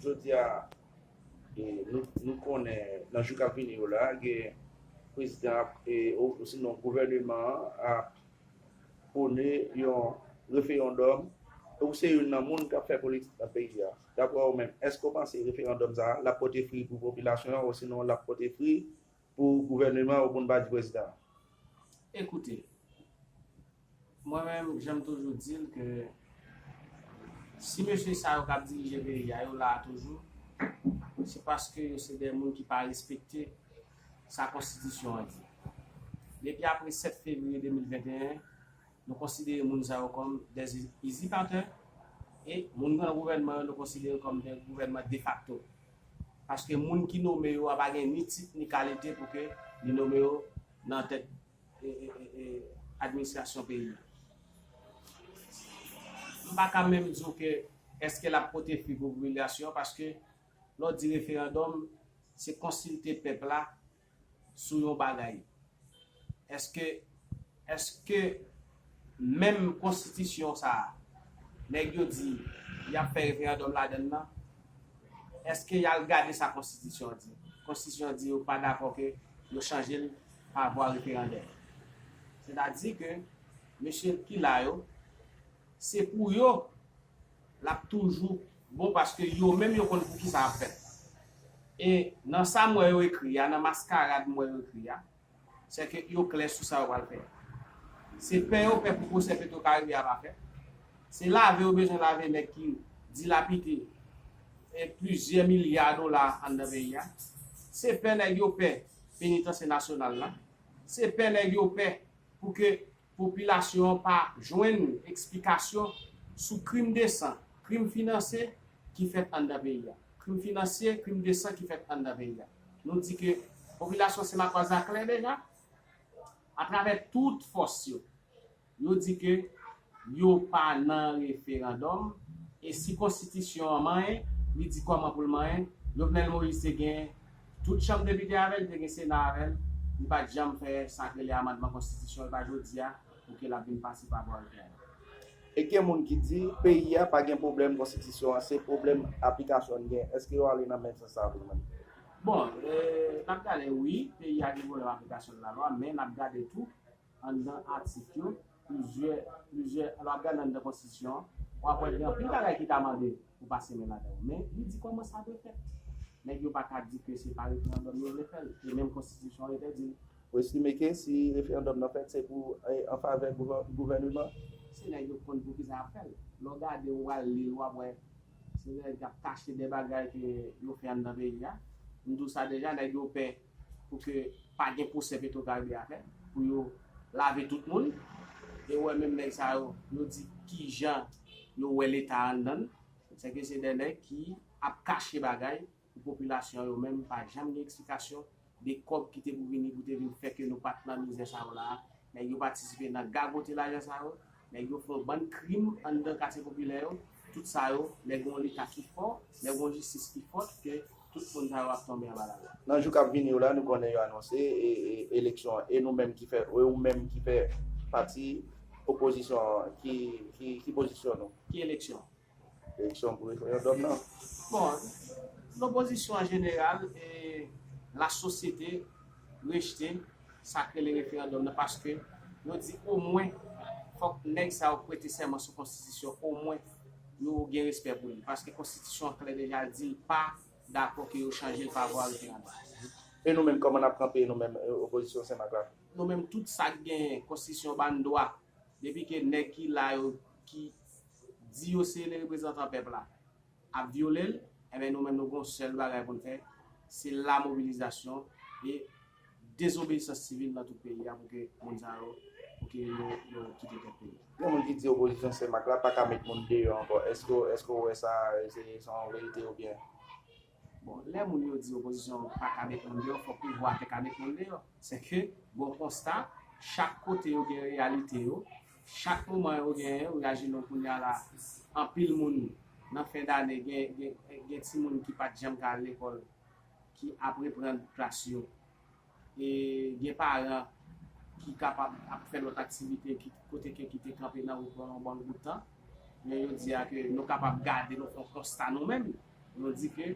Jodi a, nou konnen nan jou k ap vini yo la, prezidan an osinon gouvèneman an ap pwone yon referandòm. Ou se youn nan moun k ap fè politik nan peyi a. Dapre ou menm, èske ou panse referandòm sa a l ap pote fri pou popilasyon an osinon l ap pote fri Pou gouvèneman ou konn bati prezidan. Ekoute Mwen menm janm toujou dil ke si mesye sa yo kap dirije peyi a yo la a toujou se paske yo se de moun ki pa respekte sa konstitisyon an di depi apre 7 fevriye 2021 nou konsidere moun sa yo kòm de izipatè e moun nan gouvènman yo nou konsidere kòm de gouvènman defakto. Paske moun ki nome yo a pa gen ni tit ni kalite pou ke li nome yo nan tèt administrasyon peyi a. M pa ka menm di w ke eske l ap pote fwi pou popilasyon paske lè w di referandòm se konsilte pèp la sou yon bagay eske eske menm konstitisyon sa nèg yo di yap fè referandòm ladann nan eske yal gade sa konstitisyon an di konstitisyon an di yo pa dakò ke yo chanjel pa vwa referandè sètadi ke mesye ki la yo se pou yo lap toujou bon paske yo menm yo konn poukisa yap fèt e nan sam wè yo ekri a nan maskarad m wè yo ekri a sèke yo klè sou sa yo pral fè a se pè yo pè pou pwosè petrokaribe a pa fèt se lave yo bezwen lave nèg ki dilapide plizyè milya dola anndan peyi a se pè nèg yo pè penitansye nasyonal la se pè nèg yo pè pouke popilasyon an pa jwenn eksplikasyon sou krim de san, krim finanse ki fèt anndan peyi a. Krim finansye, krim de san ki fèt anndan peyi a. Nou di ke popilasyon Senmakòz la klè deja, atravè tout fòs yo, yo di ke yo pa nan referandòm, e si konstitisyon an manyen, li di kòman pou l manyen, Jovenel Moïse te gen Tout chanm depite avè li te gen sena avè l, li pat janm fè sak rele amandman konstitisyon e pa jodia pou ke lap vin pase pa bwa lten an. E gen moun ki di peyi a pa gen pwoblèm konstitisyon an se pwoblèm aplikasyon li gen, eske yo ale nan menm sans sa vre menm? Bon, nap gade wi peyi a gen pwoblèm aplikasyon lalwa men nap gade tou Anndan atik yo, plizyè, plizyè, lè w ap gade anndan konstitisyon an, w ap wè gen anpil bagay ki ta mande pou pase men ladan yo. Men, li di kòman sa dwe fèt. Nèg yo pa ka di ke se pa referandòm yo vle fè l, e menm konstitisyon an entèdi l. Ou estime ke si referandòm nan fèt se pou an favè gouvèneman? Se nèg yo konn poukisa y ap fè l. Lè w gade, ou al li l, w ap wè se nèg k ap kache de bagay ke yo fè anndan peyi a. M di w sa deja, nèg yo pè pou ke pa gen pwosè petro karibe a fè pou yo lave tout moun e wè menm nèg sa yo yo di kijan yo wè leta anndan sè ke se dè nèg ki ap kache bagay pou popilasyon yo menm pa janm gen eksplikasyon de kòb ki te pou vini pou te vin fè ke nou pat nan mizè sa yo la nèg yo patisipe nan gagote lajan sa yo. Nèg yo fè yon bann krim anndan katye popilè yo, tout sa yo, lè gen yon leta ki fò, lè gen yon jistis ki fòt ke tout moun sa yo ap tonbe anba lalwa. Nan jou kap vini yo la nou konnen yo anonse eleksyon an e nou menm ki fè e ou menm ki fè pati opozisyon an ki pozisyon nou? Ki eleksyon? Eleksyon pou referandòm nan? Bon, lopozisyon an jeneral e lasosyete rejte sa k rele referandòm nan paske yo di omwen fòk nèg sa yo prete sèman sou konstitisyon omwen yo gen respè pou li paske konstitisyon an klè deja l di l pa dakò ke yo chanje l pa vwa referandòm. E nou menm kòman n ap kanpe nou menm opozisyon Senmak la? Nou menm tout sa k genyen konstitisyon ban n dwa depi ke nèg ki la yo ki di yo se le reprezantan pèp la ap vyole l enben nou menm nou gen yon sèl bagay pou n fè se la mobilizasyon e dezobeyisans sivil nan tout peyi a pou ke moun sa yo pou ke yo kite tèt peyi a. Gen moun ki di opozisyon Senmak la pa ka met moun deyò ankò, èske w wè sa se yon verite oubyen Bon, lè moun yo di opozisyon an pa ka met moun deyò, fòk pouvwa a te ka met moun deyò. Sèke, bon konsta, chak kote yo gen reyalite yo, chak moman yo genyen, oyajinon kounye a la, anpil moun nan fen dane gen gen gen timoun ki pa t janm ka al lekòl ki ap reprann klas yo. E gen paran ki kapab ap fè lòt aktivite ki kote ke ki te kanpe nan wout pandan yon bon bout tan. Men yo di a ke nou kapab gade nou fè yon konsta nou menm. Nou di ke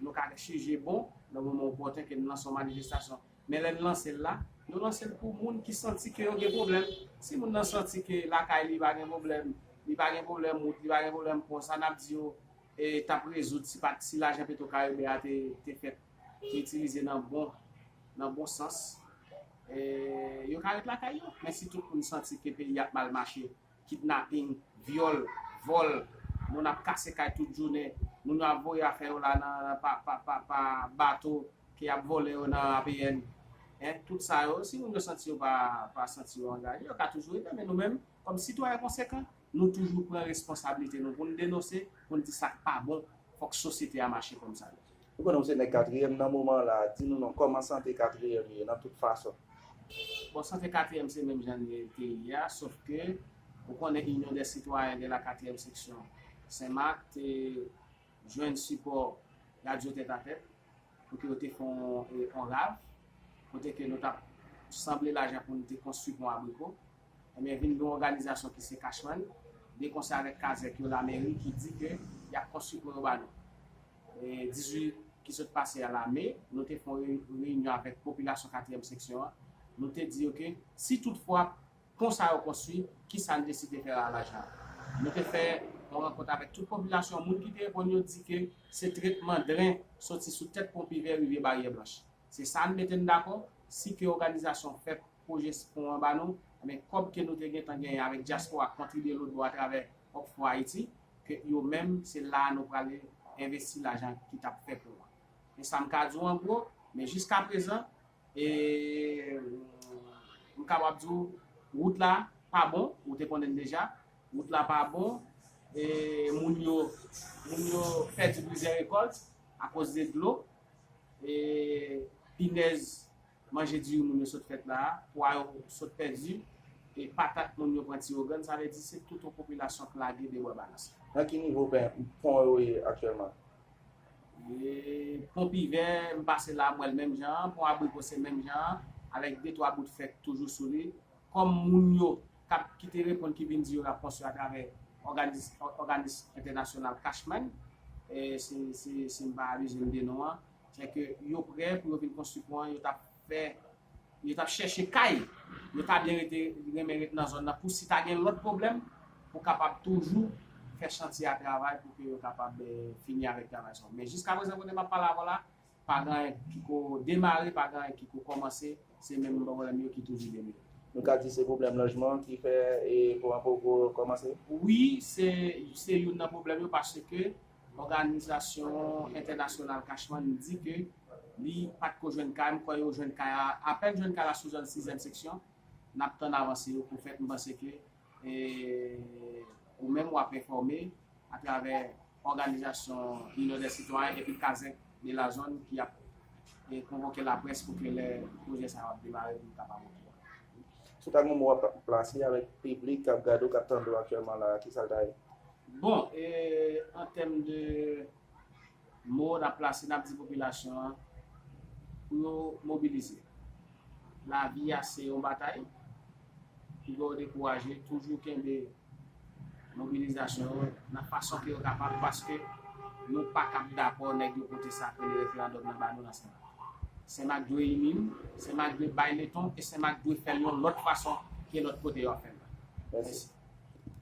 nou ka jije bon nan moman opòten ke nou lanse yon manifestasyon. Men lè nou lanse l la, nou lanse l pou moun ki santi ke yo gen pwoblèm. Si moun nan santi ke lakay li pa gen pwoblèm, li pa gen pwoblèm wout, li pa gen pwoblèm pon, sa n ap di yo? tap rezoud si pat si lajan petro karibe a te fèt te itilize nan bon nan bon sans yo ka ret lakay yo men si tout moun santi ke peyi ap mal mache kidnaping vyòl vòl moun ap kase kay tout jounen moun yo ap voye afè yo la nan pa bato ke yap vòlè yo nan apn tout sa yo si moun yo santi yo pa santi yo angaje yo ka toujou rete men nou menm kòm sitwayen konsekan. Nou toujou pran responsablite nou pou n denonse, pou n di sa k pa bon, fòk sosyete a mache kòm sa dwa. Ou konnen ou se nèg katriyèm nan moman an la a, di nou non, kòman sante katriyèm ye nan tout fason? Bon, sante katriyèm se menm jan li te ye a, sof ke ou konnen Inyon dè Sitwayen de la Katriyèm Seksyon Sen Mak te jwenn sipò Radyo Tèt a Tèt pou ke yo te fè yon rav, kote ke nou t ap sanble lajan pou nou te konstwi pon abriko. Ebyen vin gen yon òganizasyon ki se Cashman, de konsè avèk kazèk yo lamèri ki di ke y ap konstwi pon yo ba nou. 18 ki sot pase a la me, nou te fè yon reyinyon avèk popilasyon katriyèm seksyon an, nou te di yo ke si tout fwa pon sa yo konstwi, kisa n deside fè a lajan an. Nou te fè yon rankont avèk tout popilasyon an, moun ki te reponn yo di ke se tretman dren soti sou tèt pon Pivè rive Baryè Blanch. Se sa n mete n dakò, si ke òganizasyon fèt pwojè pon an ba nou, enben kòb ke nou te gentan genyen avèk dyaspora kontribye lotbò atravè Oxfo Haiti, ke yo menm se la a nou prale envesti lajan ki tap fè pon an. E sa m ka di w an gwo, men jiskaprezan, e m kapab di w wout la pa bon, ou te konnen deja, wout la pa bon, e moun yo, moun yo pèdi plizyè rekòlt akoz de dlo, e pinèz Manje diri moun yo sot fèt la a, pwa yo sot pèdi, e patat moun yo pran tiyogann, sa vle di se tout yon popilasyon k lage debwa balans. Nan ki nivo pon yo ye aktyèlman? Pon Pivè, m pase la a m wè l menm jan an, pon Abriko se menm jan an, avèk de twa bout fè k toujou sou li. Kòm moun yo k ap ki te reponn ki vin di yo l ap konstwi atravè òganis entènasyonal Cashman, si m pa abize m de non an, Lè ke yo prè pou yo vin konstwi pon an, yo tap fè, yo tap chèche kay yo ta byen rete, renmen rete nan zòn nan pou si ta gen lòt pwoblèm pou kapab toujou fè chantye a travay pou ke yo kapab fini avèk travay sa yo. Men jiska prezan kote map pale avè'w la, pa gen anyen ki ko demare, pa gen anyen ki ko kòmanse, se menm pwoblèm yo ki toujou demire. Nou ka di se pwoblèm lojman ki fè pon an poko kòmanse? Wi, se youn nan pwoblèm yo paske Òganizasyon entènasyonal Cashman di ke li pat ko jwenn kay, m kwè yo jwenn kay la, apèn jwenn kay la sou zòn sizèm seksyon, nap tann avanse yo pou fèt, m panse ke ou menm wap enfòme atravè òganizasyon Inyon dè sitwayen epi kazèk de la zòn ki ap konvoke laprès pou ke lè pwojè sa yo ap demare pou yo kapab okouran. Sou kal moman wap plase avèk piblik kap gade w kap tande w aktyèlman la a, kisal ta ye? Bon e an tèm de mo nap plase nap di popilasyon an pou yo mobilize. Lavi a se yon batay, piga yo dekouraje toujou kenbe mobilizasyon yo nan fason ke yo kapab paske nou pa kab dakò nèg yo pote sa ak rele referandòm nan ba nou nan Senmak. Senmak dwe ini nou, Senmak dwe bay leton e Senmak dwe fèl yon lòt fason ke lòt kote yo ap fèl la. Mèsi.